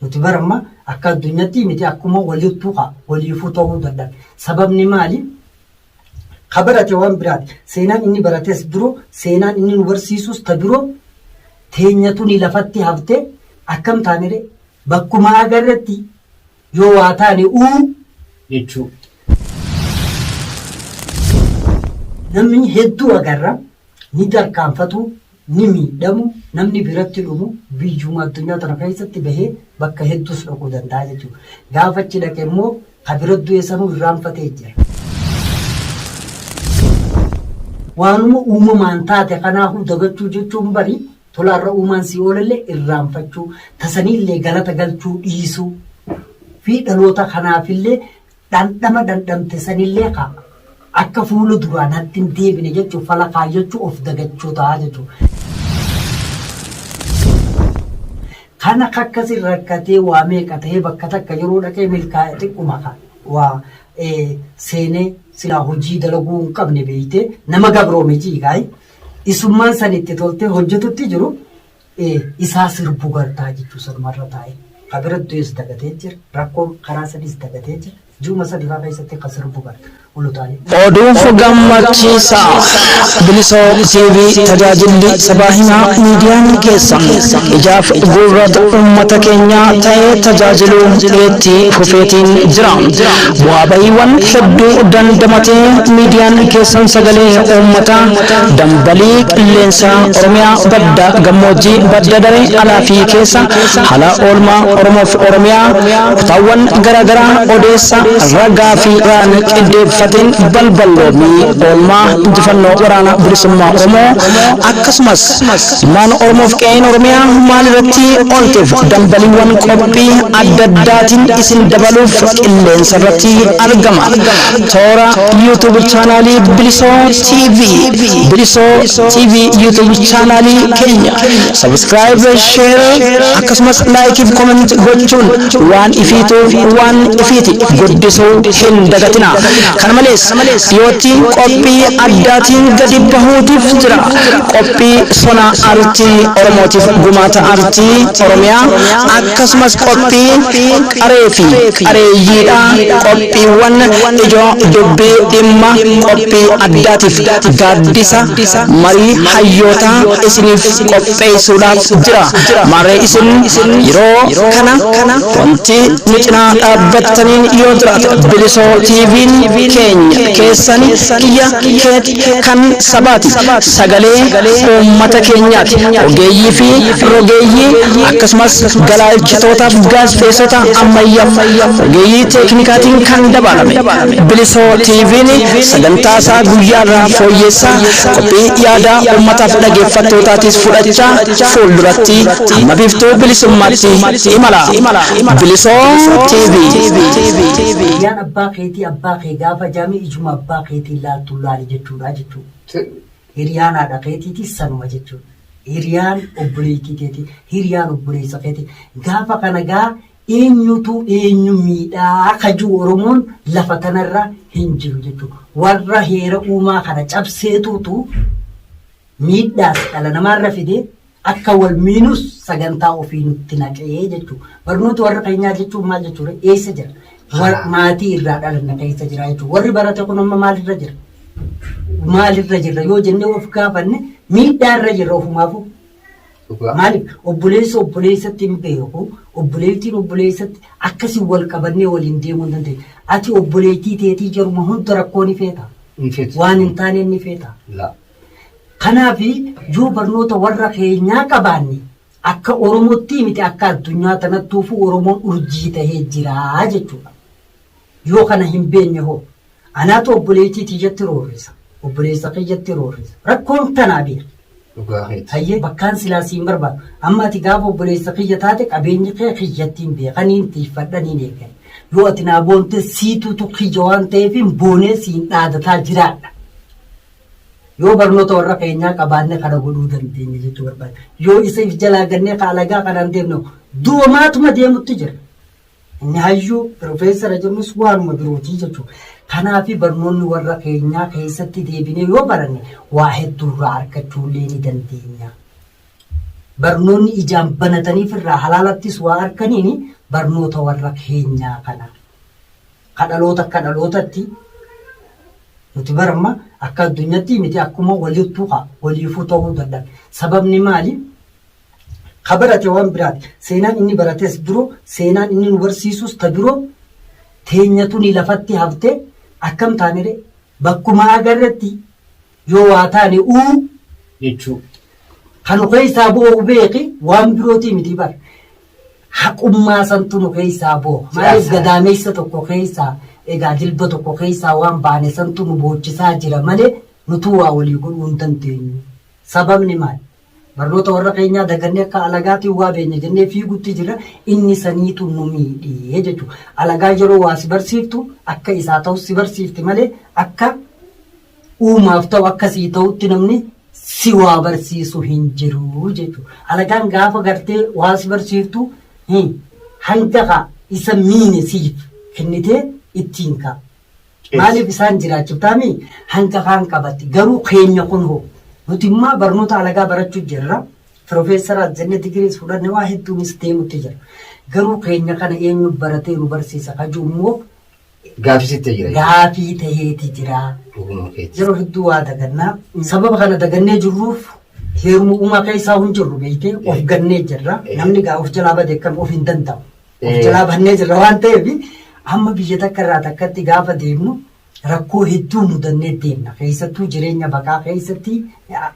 Nuti bar amma akka addunyatti miti akkuma walittu ka waliifuu ta'uu dadhabe. Sababni maali? Ka barate waan biraati. Seenaan inni barates biroo, seenaan inni nu barsiisus ta biroo teenya tuni lafatti haftee akkam taanire bakkuma agarretti yoo waa taane uu jechuu. Namni hedduu agarra ni tarkaanfatu, ni miidhamu, namni biratti dhumu biyyuma addunyaa tana keessatti bahee bakka hedduus dhaquu danda'a jechuudha. Gaafa achi dhaqe immoo ka bira du'e sanuu irraanfatee jira. Waanuma uumamaan taate kanaafuu dagachuu jechuun bari tolaarra uumaan si oolallee irraanfachuu, tasaniillee galata galchuu dhiisuu fi dhaloota kanaafillee Dhandhama dhandhamte sanillee kaa akka fuula duraa natti hin deebine jechuuf fala kaayyachuu of dagachuu ta'a jechuudha. Kana kakkasin rakkatee waa meeqa ta'ee bakka takka yeroo dhaqee milkaa'e xiqquma kaa waa seenee silaa hojii dalaguu hin qabne beeytee nama gabroometii kaayi isummaan san itti toltee hojjetutti jiru ee isaa sirbu gartaa jechuu sanumarra taa'e ka bira du'es dagatee jira rakkoon karaa sadiis dagatee jira ji'uma sadi faa keessatti ka sirbu garta ulutaalee. Oduuf Gammachiisaa! Bilisoo TV Tajaajilli Sabaa Himaa Miidiyaan keessan ijaaf gurrat uummata keenyaa ta'ee tajaajiluu itti fufeetiin jira. Bu'aa ba'iiwwan hedduu dandamatee miidiyaan keessan sagalee uummataa dambalii qilleensaa Oromiyaa badda gammoojjii, badda daree alaa fi keessa, haala oolmaa Oromoo fi Oromiyaa kutaawwan gara garaa odeessa ragaa fi raan qiddeeffateen balballoomii oolmaa injifannoo Waraana Bilisummaa Oromoo akkasumas ilmaan Oromoo fi qe'een Oromiyaa maal irratti oolteef dambaliiwwan qophii adda addaatiin isin dabaluuf qilleensa irratti argama. Toora YouTube chaanaalii Bilisoo TV Bilisoo TV YouTube chaanaalii keenya subscribe share akkasumas like fi comment gochuun waan ifiituuf waan ifiiti guddisuu hin dagatina kana malees dhiyootti qophii addaatiin gadi bahuutiif jira qophii sona artii oromootiif gumaata artii oromiyaa akkasumas qophii qaree fi qareeyyiidha Qophiiwwan ijoo dubbii dhimma qophii addaatiif gaaddisa marii hayyootaa isiniif qopheessuudhaaf jira. Maarree isin yeroo kana wanti nu cinaa dhaabbattaniin yoo jiraate Bilisoo TVn keenya keessan kiyya keeti. Miidiyaa kan sabaati. Sagalee uummata keenyaati. Ogeeyyii fi rogeeyyii akkasumas galaalchitootaaf gaazexeessota ammayyaaf ogeeyyii teeknikaatiin kan dabaalame. Bilisoo TVn sagantaa isaa guyyaa irraa fooyyeessaa qophii yaadaa uummataaf dhageeffattootaatiis fudhachaa fuulduratti hamma biiftuu bilisummaatti imala. Bilisoo TV. Miidiyaan abbaa keetii abbaa kee gaafa jami isuma abbaa keetiin laaltu laali jechuudha jechuu Fedhu hiriyaan haadha keetiitis sanuma jechuudha hiriyaan obboleettii keeti hiriyaan obboleessa keeti gaafa kana gaa eenyutu eenyu miidhaa kajuu oromoon lafa tanarra hin jiru jechuu warra heera uumaa kana cabseetuutu miidhaas dhala namaarra fide akka wal miinus sagantaa ofii nutti naqee jechuudha. Barnoota warra keenyaa jechuun maal jechuudha? Eessa jira? War- Haa. Maatii irraa dhalanna keessa jira jechuudha. Warri barate kun amma maalirra jira? Maalirra jirra yoo jennee of gaafanne miidhaarra jirra ofumaafuu. Dhugaa. Maaliif obboleessi obboleessatti hin beeku, obboleettiin obboleessatti akkasii wal qabannee waliin deemuu hin dandeenye. Ati obboleettii teetii jaruma hunda rakkoon ni feeta. Hin feetu. Waan hin taane ni feeta. Laa. Kanaaf yoo barnoota warra keenyaa qabaanne akka Oromottii miti akka addunyaa tanattuufuu Oromoon urjii tahee jira jechuudha. Yoo kana hin beenne hoo? Anaatu obboleeytii tiyyatti roorrisa. Obboleessa kiyyatti roorrisa. Rakkoon tanaa beeki. Dhugaa keeti. Hayyee bakkaan silaa siin barbaadu. Amma ati gaafa obboleessa kiyya taate qabeenyi kee kiyyattiin beeka niin tiiffadha niin eegale. Yoo ati naa boonte siituutu kiyya waan ta'eef hin boonee siin dhaadataa jiraadha. Yoo barnoota warra keenyaa qabaanne kana godhuu dandeenya jechuu barbaada. Yoo isa if jalaa gannee ka alagaa kanaan deemnu doomaatuma deemutti jira. Inni hayyuu pirofeesara jedhamus waanuma birootii jechuudha. Kanaafi barnoonni warra keenyaa keessatti deebinee yoo baranne waa hedduurraa argachuullee ni dandeenya. Barnoonni ijaan banataniif irraa halaalattis waa arganiin barnoota warra keenyaa kana. Ka dhaloota akka dhalootatti Nuti bar amma akka addunyatti miti akkuma walittu ka waliifuu ta'uu dadhabe. Sababni maali? Ka barate waan biraati. Seenaan inni barates biroo, seenaan inni nu barsiisus ta biroo teenya tuni lafatti hafte akkam taanire bakkuma agarretti yoo waa taane uu jechuu. Kanu keessaa bu'uu beeki waan birootii miti bar. Haqummaa santu nu keessaa booha. Maaliif gadaameessa tokko keessaa egaa jilba tokko keessaa waan baane santu nu boochisaa jira malee nutuu waa walii godhuu hin dandeenyu. Sababni maali? Barnoota warra keenyaa dagannee akka alagaatiin waa beekna jennee fiigutti jirra. Inni saniitu nu miidhe jechuudha. Alagaan yeroo waa si barsiiftu akka isaa ta'u si barsiifti malee akka Uumaaf ta'u akka sii ta'utti namni si waa barsiisu hin jiru jechuudha. Alagaan gaafa gartee waa si barsiiftu hin hanga kaa isa miine siif kennitee ittiin kaa. Maaliif isaan jiraachiftaa mii hanga kaan qabatti garuu keenya kun hoo nuti immaa barnoota alagaa barachuu jirra. Pirofeesaraas jenne digiriis fudhanne waa hedduunis deemutti jira. Garuu keenya kana eenyu baratee nu barsiisa kajuu immoo Gaafii sitti ta'e jira. gaafii taheeti jira. Dhuguma keeti. Yeroo hedduu waa dagannaa. Sababa kana dagannee jirruuf heeruma uumaa keessaa hin jirru beektee of Eh. gannee jirra. Eh. Namni gaa of jalaa bade kam of hin danda'u. Of Eh. jalaa bannee jirra waan ta'eef amma biyya takka irraa takkatti gaafa deemnu rakkoo hedduu mudannee deemna. Keessattuu jireenya baqaa keessatti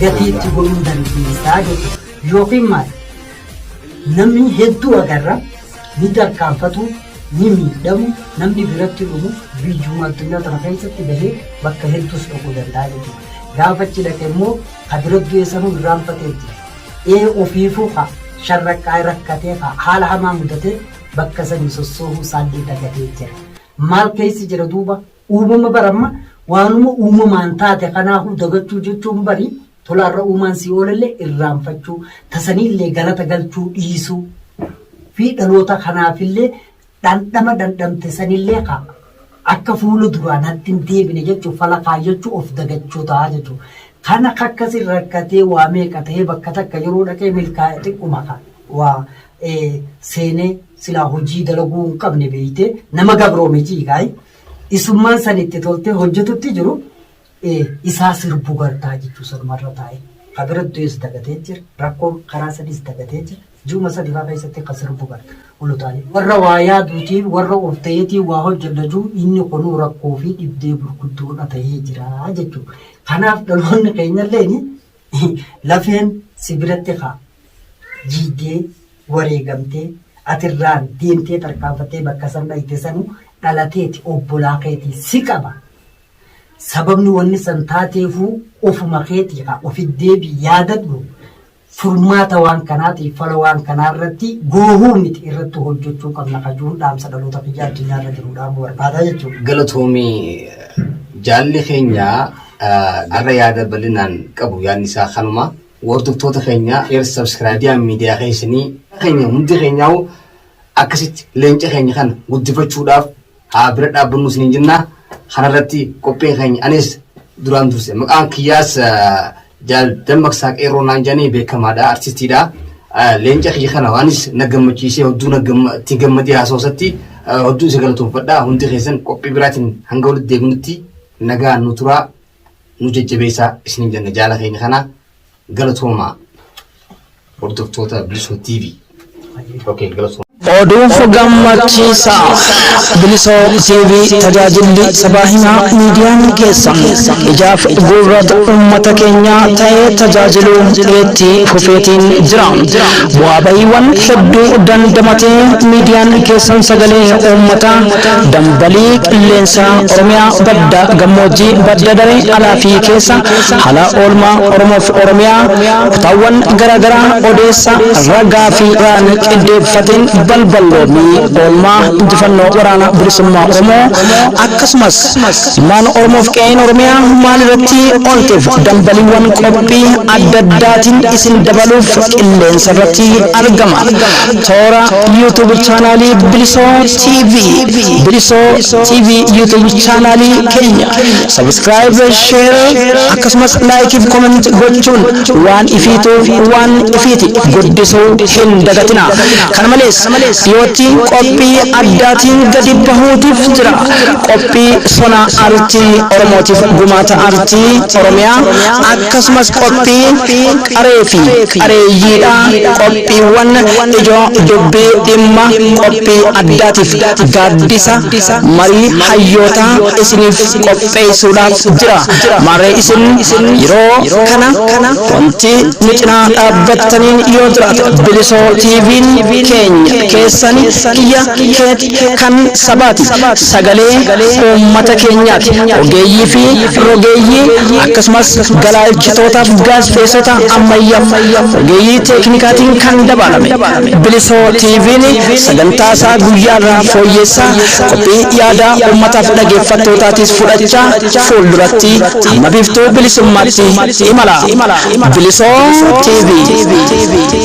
gatii itti godhuu dandeessaa jechuudha. Yookiin maal? Namni hedduu agarra ni tarkaanfatu ni miidhamu namni biratti dhumu biyyuma addunyaa tana keessatti bahee bakka hedduus dhaquu danda'a jechuudha. Gaafa achi dhaqe immoo ka bira du'e sanuu irraanfatee jira. Ee ofiifuu ka sharraqqaa rakkatee ka haala hamaa mudatee bakka sanii sossoohuu isaallee dagatee jira. Maal keessi jira duuba Uumama bar amma waanuma uumamaan taate kanaahuu dagachuu jechuun bari tola arra uumaan sii oolellee irraanfachuu tasaniillee galata galchuu dhiisuu fi dhaloota kanaafillee dhandhama dhandhamte sanillee ka akka fuula duraa natti hin deebine jechuuf fala kaayyachuu of dagachuu ta'a jechuudha. Kana kakkasin rakkatee waa meeqa ta'ee bakka takka yeroo dhaqee milkaa'e xiqquma ka waa seenee silaa hojii dalaguu hin qabne beeytee nama gabroome ciigaayi isummaan san itti toltee hojjetutti jiru isaa sirbu gartaa jechuu sanumarra taa'e ka bira du'es dagatee jira rakkoo karaa sadiis dagatee jira ji'uma sadifaa keessatti ka sirbu garta olu taa'e warra waa yaaduutiin warra of ta'eetiin waa hojjenna jiru inni kunuu rakkoo fi dhibdee gurguddoodha ta'ee jira jechuu kanaaf dhaloonni keenyalleen Lafeen si biratti ka jiigdee, wareegamtee, ati irraa deemtee tarkaanfattee bakka san dhayxe sanu dhala teeti, obbolaa keeti, si qaba. Sababni wanni san taateefuu ofuma keeti ka ofi deebi'i yaadadhu. Furmaata waan kanaatiif fala waan kanaa irratti goohuu miti irratti hojjechuu qabna ka jiruun dhaamsa dhaloota kiyya addunyaa irra jiruu dhaamuu barbaada jechuudha. Galatoomi jaalli keenya. Arra yaada bal'inaan qabu yaadni isaa kanuma. Hordoftoota keenya share subscribe miidiyaan miidiyaa keessanii keenya hundi keenyaa'u akkasitti leenca keenya kana guddifachuudhaaf haa bira dhaabbannu isiniin jenna. Kanarratti qophiin keenya anis duraan durse maqaan kiyyaas jaal dammaqsaa qeerroo naan jedhanii beekamaadha artistiidha. Leenca kiyya kana waanis na gammachiisee hedduu na itti gammadee haasawasatti hedduu isa galatoomfadha hundi keessan qophii biraatiin hanga walitti deebinutti Nagaan nu turaa nu jajjabeessaa isiniin jenna jaala keenya kana galatoomaa hordoftoota Bilisoo TV. Okay, galatoomaa. Oduunfa gammachiisaa Bilisoo TV tajaajilli sabaa himaa miidiyaan keessan ijaaf gurrata uummata keenyaa ta'ee tajaajiluu itti fufeetiin jira. Bu'aa ba'iiwwan hedduu dandamatee miidiyaan keessan sagalee uummataa dambalii qilleensaa Oromiyaa badda gammoojjii, badda daree alaa fi keessa, haala oolmaa Oromoo fi Oromiyaa kutaawwan gara garaa odeessa ragaa fi raan qiddeeffateen balballoomii oolmaa injifannoo Waraana Bilisummaa Oromoo akkasumas ilmaan Oromoo fi qe'een Oromiyaa maal irratti oolteef dambaliiwwan qophii adda addaatiin isin dabaluuf qilleensa irratti argama. Toora YouTube Chaanaalii Bilisoo TV Bilisoo TV YouTube chaanaalii keenya subscribe share akkasumas like fi comment gochuun waan ifiituuf waan ifiiti guddisuu hin dagatina kana malees dhiyootti qophii addaatiin gadi bahuutiif jira qophii sona artii oromootiif gumaata artii oromiyaa akkasumas qophii qaree fi qareeyyiidha Qophiiwwan ijoo dubbii dhimma qophii addaatiif gaaddisa marii hayyootaa isiniif qopheessuudhaaf jira. Maarree isin yeroo kana wanti nu cinaa dhaabbattaniin yoo jiraate Bilisoo TVn keenya keessan kiyya keet kan sabaati. Sagalee uummata keenyaati. Ogeeyyii fi rogeeyyii akkasumas galaa'elchitootaaf gaazexeessota ammayyaaf ogeeyyii teeknikaatiin kan dabaalame. Bilisoo TVn sagantaa isaa guyyaa irraa fooyyeessaa qophii yaadaa uummataaf dhageeffattootaatiis fudhachaa fuulduratti amma biiftuu bilisummaatti imala. Bilisoo TV.